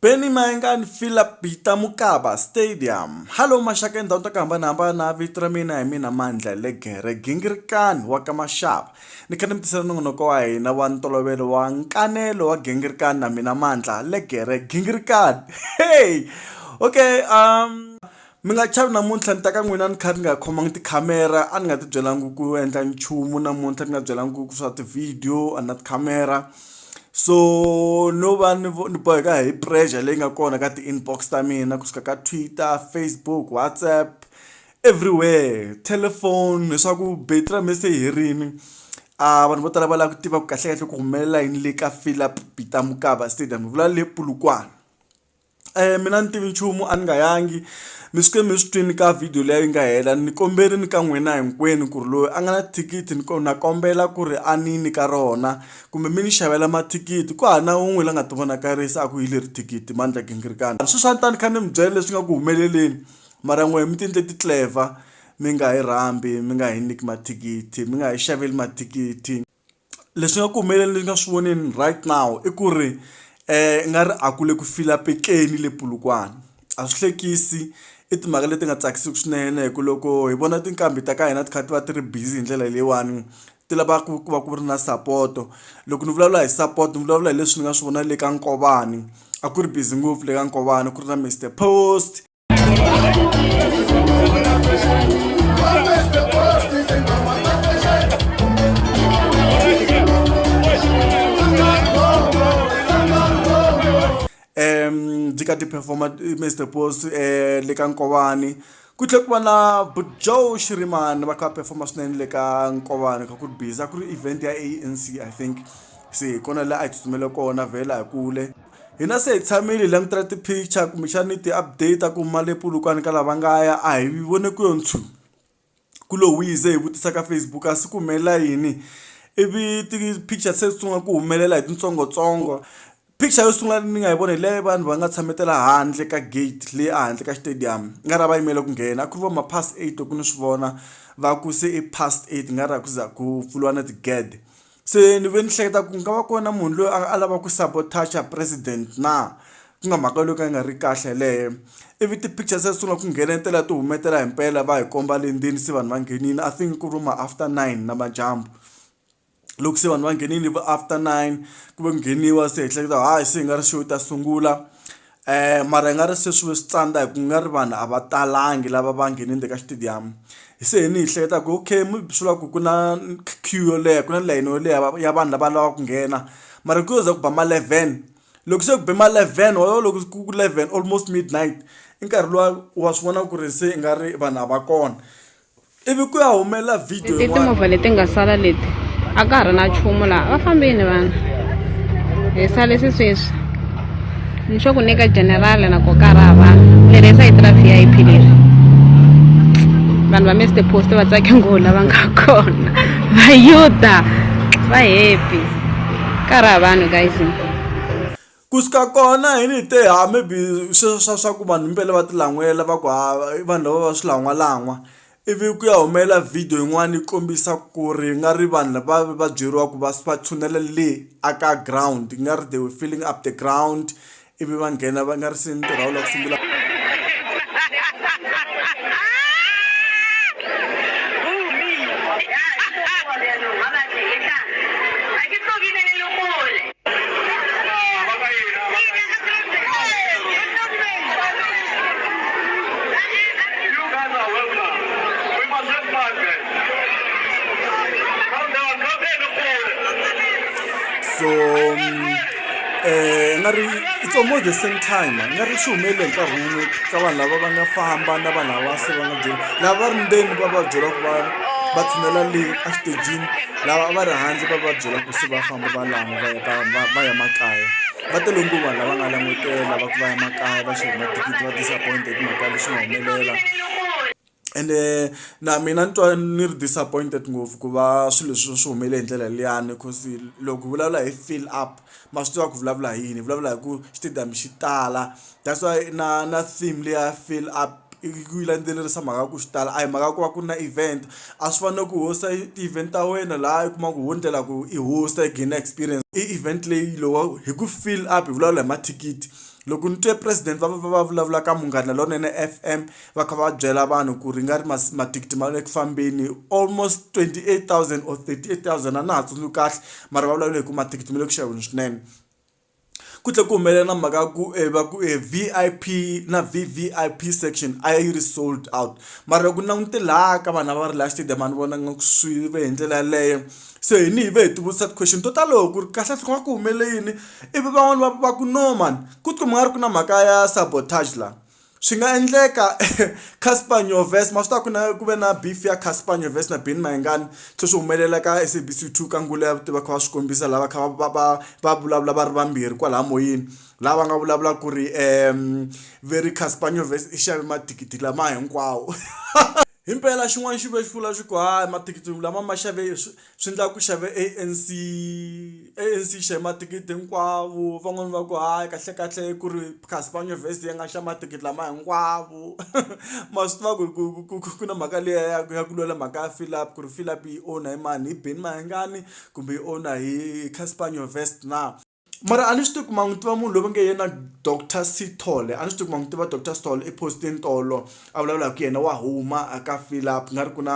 Benny Maingani Philip Bita Mukaba Stadium. Hello maxaka endhawini ta ku hambanahambana vito ra mina hi mina mandla legere gingirikani wa ka maxava ni kha ni mi tisela nongonoko wa hina wa ntolovelo wa nkanelo wa gingirikani na mina mandla legere gingirikani hey okay um Mi nga chavi namuntlha ni ta ka n'wina ni kha ni nga khomanga tikhamera a ni nga ti byelanga ku endla nchumu namuntlha ni nga byelanga ku swa ti-video a ni na tikhamera so no va ni ni boheka hi pressure leyi nga kona ka ti-inbox ta mina kusuka ka Twitter, Facebook, WhatsApp everywhere telephone leswaku battery ra mina se yi herile a vanhu vo tala va lava ku tiva ku kahlekahle ku humelela yini le ka Phillip Peter Mokaba stadium hi vula le Polokwane. Eya mina a ni tivi nchumu a ni nga yangi mi suke mi swi twini ka video liya yi nga hela ni komberini ka n'wina hinkwenu ku ri loyi a nga na thikithi ni na kombela ku ri a ni nyika rona kumbe mi ni xavela mathikithi ku hava na wun'we la nga ti vonakarisa a ku hi leri thikithi Mandla Gingirikani sweswi a ni ta ni kha ni mi byela leswi nga ku humeleleni mara n'wehe mi ti endle ti clever mi nga hi rhambi mi nga hi nyiki mathikithi mi nga hi xaveli mathikithi. Leswi nga ku humelela leswi nga swi voneni right now i ku ri i nga ri a kule ku fila penceni le Polokwane a swi hlekisi i timhaka leti nga tsakisiki swinene hi ku loko hi vona tinqambi ta ka hina ti kha ti va ti ri busy hi ndlela leyiwani ti lavaka ku va ku ri na sapoto loko ni vulavula hi sapoto ni vulavula hi leswi ni nga swi vona le ka Nkovani a ku ri busy ngopfu le ka Nkovani ku ri na Mister Post. ka ti-performa eh, mr post um eh, le ka nkovani ku tlhe ku va na bujoe xirimani va kha va performa swinene le ka nkovani kha ku ri busy a ku ri event ya anc i think se hi kona laha a hi tsutsumele kona vhela hi kule Hina se hi tshamile hi langutela ti-picture kumbexani ti-update ku mali Polokwane ka lava nga ya a hi vone ku yo nchumu ku lo wise hi vutisa ka Facebook a swi ku humelela yini ivi ti-picture se sungula ku humelela hi tintsongotsongo picture yo sungula ni nga yi vona hi leyi vanhu va nga tshametela handle ka gate leyi a handle ka xitediyamu ku nga ri a va yimele ku nghena a ku ri va ma past eight loko ni swi vona va ku se i past eight ku nga ri a ku za ku pfuriwa na tigede. Se ni ve ni hleketa ku nga va ku ri na munhu loyi a lavaka ku sabotacha president na ku nga mhaka yo ka yi nga ri kahle yeleyo ivi ti-picture se ti sungula ku nghenetela ti humetela hi mpela va hi komba le ndzeni se vanhu va nghenile I think ku ri ma after nine namadyambu loko se vanhu va nghenile hi vu after nine ku va ku ngheniwa se hi hleketa hayi se hi nga ri show yi ta sungula. mara i nga ri se swi ve switsandza hi ku nga ri vanhu a va talangi lava va nghenini le ka xitediyamu se hi ni hi hleketa ku okay maybe swi vula ku ku na queue yo leha ku na layeni yo leha ya vanhu lava lava ku nghena mara ku za ku ba ma eleven loko se ku be ma eleven walowo loko ku ri ku eleven almost midnight i nkarhi luwa wa swi vona ku ri se i nga ri vanhu a va kona. ivi ku ya humelela video leti timovha leti nga sala leti a ka ha ri na chumu laha va fambini vanhu hi sale sisweswi ni xo ku nyika general na ko ka ra vanhu leri sa yi tira v i p leri vanhu va miste post va tsake ngoo lava nga kona vayuda va happy ka ra vanhu guys Ku suka kona hi ni te ha maybe sweswo swa swa ku vanhu mpela va ti lan'wela va ku ha i vanhu lava va swilangwalangwa ivi ku ya humelela video yin'wana yi kombisa ku ri nga ri vanhu lava va byeriwa ku va va tshunela le a ka ground yi nga ri they were filling up the ground ivi va nghena va nga ri se ntirho wu la ku sungula so um nga ri it's almost the same time nga ri swi humelele hi nkarhi wun'we ka vanhu lava va nga famba na vanhu lava se va nga byela lava va ri ndzeni va va byela ku va va tshinela le exitejini lava a va ri handle va va byela ku se va famba va lan'wa va ya ka va va ya makaya va tele nguva lava nga langutela va ku va ya makaya va xava mathikithi va disappoint hi timhaka leswi nga humelela ende na mina ni twa ni ri disappointed ngopfu ku va swilo leswi swi humele hi ndlela liyani coz loko hi vulavula hi fill up ma swi tiva ku vulavula hi yini hi vulavula hi ku xitediyamu xi tala that's why na na theme leyi ya fill up i ku yi landzelerisa mhaka ya ku xi tala a hi mhaka ya ku va ku ri na event a swi fani na ku host-a ti-event ta wena laha u kuma ku ho endlela ku i host-a i gain-a experience i event leyi lowa hi ku fill up hi vulavula hi mathikithi loko ni twe president va va va va vulavula ka munghana lonene F_M va kha va byela vanhu ku ri nga ri mathikithi ma le ku fambeni almost 28000 or 38000 a na ha tsundzuki kahle mara va vulavula hi ku mathikithi ma le ku xaveni swinene ku tlhe ku humelela na mhaka ku eh, va ku eh, vip na vvip section a yi ri sold out mara loko langute laha ka vanhu va ri laha stadium a ni vona nga swi ve hi ndlela yaleyo se hi ni hi ve hi tivutisa ti-question to talo ku ri kahle hloko va ku humele yini ivi van'wani va va ku no mani ku tiko mi nga ri ku na mhaka ya sabotage laha Swi nga endleka Casper Nyovest ma swi tiva ku na ku ve na beef ya Casper Nyovest na Benny Mayengani se swi humelela ka SABC 2 ka Ngula ya vutivi va kha va swi kombisa lava kha va va va vulavula va ri vambirhi kwalaya moyeni laha va nga vulavulaka ku ri ve ri Casper Nyovest i xave mathikithi lama hinkwawo himpela xin'wana xi vuye xi vula xi ku hayi mathikithi lama ma xave swi. swi endlaka ku xave A_N_C A_N_C yi xave mathikithi hinkwavo van'wani va ku hayi kahle kahle ku ri kasi va nyuvhesi yi nga xa mathikithi lama hinkwavo ma swi tiva ku ri ku ku ku ku na mhaka liya ya ku ya ku lwela mhaka ya Fill Up ku ri Fill Up yi own hi mani hi Benny Mayengani kumbe yi own hi Casper Nyovest na. mara a ni swi tivi ku ma n'wi tiva munhu loyi va nge yena doctor sithole a ni swi tivi ku ma n'wi tiva doctor sithole i postini tolo a vulavula hi ku yena wa huma a ka fill up nga ri ku na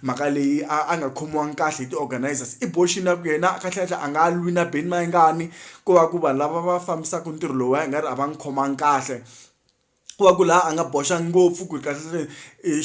mhaka leyi a a nga khomiwangi kahle hi ti-organizers i boxini ya ku yena kahlekahle a nga lwi na Benny Mayengani ko va ku vanhu lava va fambisaka ntirho lowuya i nga ri a va n'wi khomangi kahle. ku va ku laha a nga boxa ngopfu ku ri kahlekahle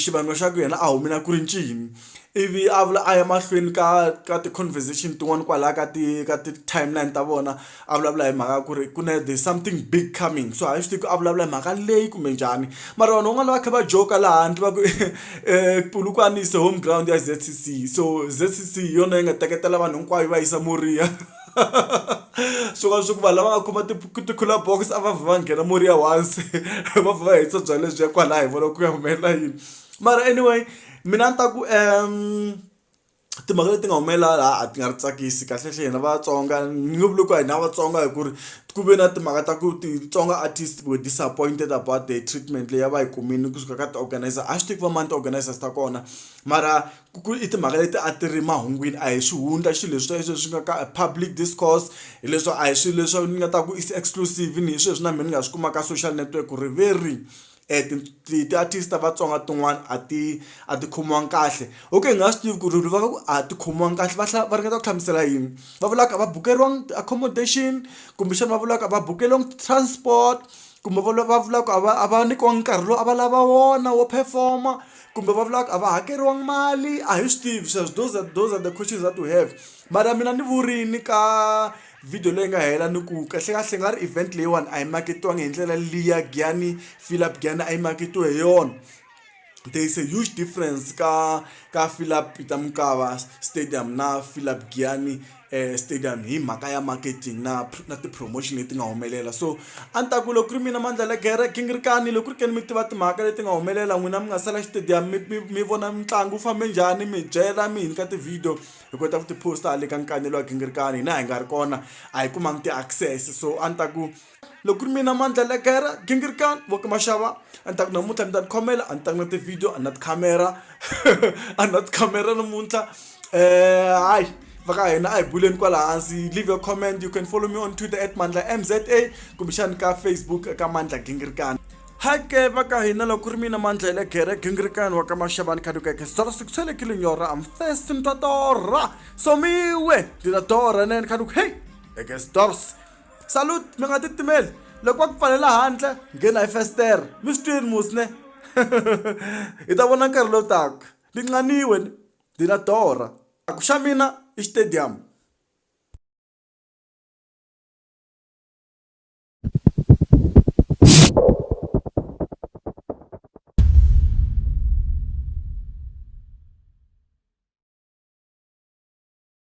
xivangelo xa ku yena a humile a ku ri ncini ivi a vula a ya mahlweni ka ka ti-conversation tin'wani kwalaya ka ti ka ti-timeline ta vona a vulavula hi mhaka ya ku ri ku na the something big coming so a hi swi tivi ku a vulavula hi mhaka leyi kumbe njhani mara vanhu van'wani va va kha va joke laha handle va ku Polokwane is the home ground ya Z_C_C so Z_C_C hi yona yi nga teketela vanhu hinkwavo yi va yisa Moriya. swi vona swa ku vanhu lava nga kuma ti-cooler box a va vha va nghena murhi ya once va vha va hetisa byalwa lebyiya kwalaya hi vona ku ya humelela yini mara anyway mina a ni ta ku timhaka leti nga humelela laha a ti nga ri tsakisi kahlekahle hina vatsonga ni nge vuli ku hina vatsonga hi ku ri ku ve na timhaka ta ku titsonga artist were disappointed about the treatment leyi a va yi kumile kusuka ka ti-organiser a swi tivi ku va mani ti-organiser ta kona mara. ku i timhaka leti a ti ri mahungwini a hi swihundla xilo leswi leswi swi nga ka public discourse hileswi a hi swilo leswi ni nga ta ku is exclusive ni hi sweswi na mina ni nga swi kuma ka social network ku ri ve ri um ti-artist ta vatsonga tin'wana a ti a ti khomiwanga kahle okay hi nga swi tivi ku ri va ku a ti khomiwanga kahle va va ringeta ku hlamusela yini va vulaka a va bukeriwangi ti-accommodation kumbexana va vulaka a va bukeriwangi ti-transport kumbe va va vulaka a va a va nyikiwangi nkarhi lowu a va lava wona wo perform-a. kumbe va vulaka a va hakeriwanga mali a hi swi tivi sweswo those are, those are the questions that we have mara mina ni vurini ka video leyi nga hela ni ku kahlekahle nga ri event leyiwani a yi maketiwangi hi ndlela liya gyani philip gyani a yi maketiwe hi yona there is a huge difference ka ka philip peter mukava stadium na philip gyani stadium hi mhaka ya marketing na na ti-promotion leti nga humelela so a ni ta ku loko ku ri mina mandla la gere gingirikani loko ku ri ke ni mi tiva timhaka leti nga humelela n'wina mi nga sala xitediyamu mi mi mi vona mitlangu wu fambe njhani mi byela mi hi nyika ti-video hi kota ku ti-post-a le ka nkanelo wa gingirikani hina hi nga ri kona a hi kumanga ti-access so a ni ta ku loko ku ri mina mandla legere gingirikani vo ka maxava a ni ta ku namuntlha ni ta ni khomela a ni ta ku na ti-video a ni na tikhamera a ni na tikhamera namuntlha um hayi va ka hina a hi buleni kwala hansi leave your comment you can follow me on twitter at mandla m z a kumbexani ka facebook ka mandla gingirikani hake va ka hina loko ri mina mandla hi le gere gingirikani wa ka maxavani khadukeke sala siku sele ki linyora am first ni ta torha somiwe ndzi ta torha nene khaduk hey ekesdors salute mi nga titimeli loko va ku pfalela handle nghena hi festere mi swi twini musne hi ta vona nkarhi lowu taka ni nqaniwe ni na dora a ku xa mina i stadium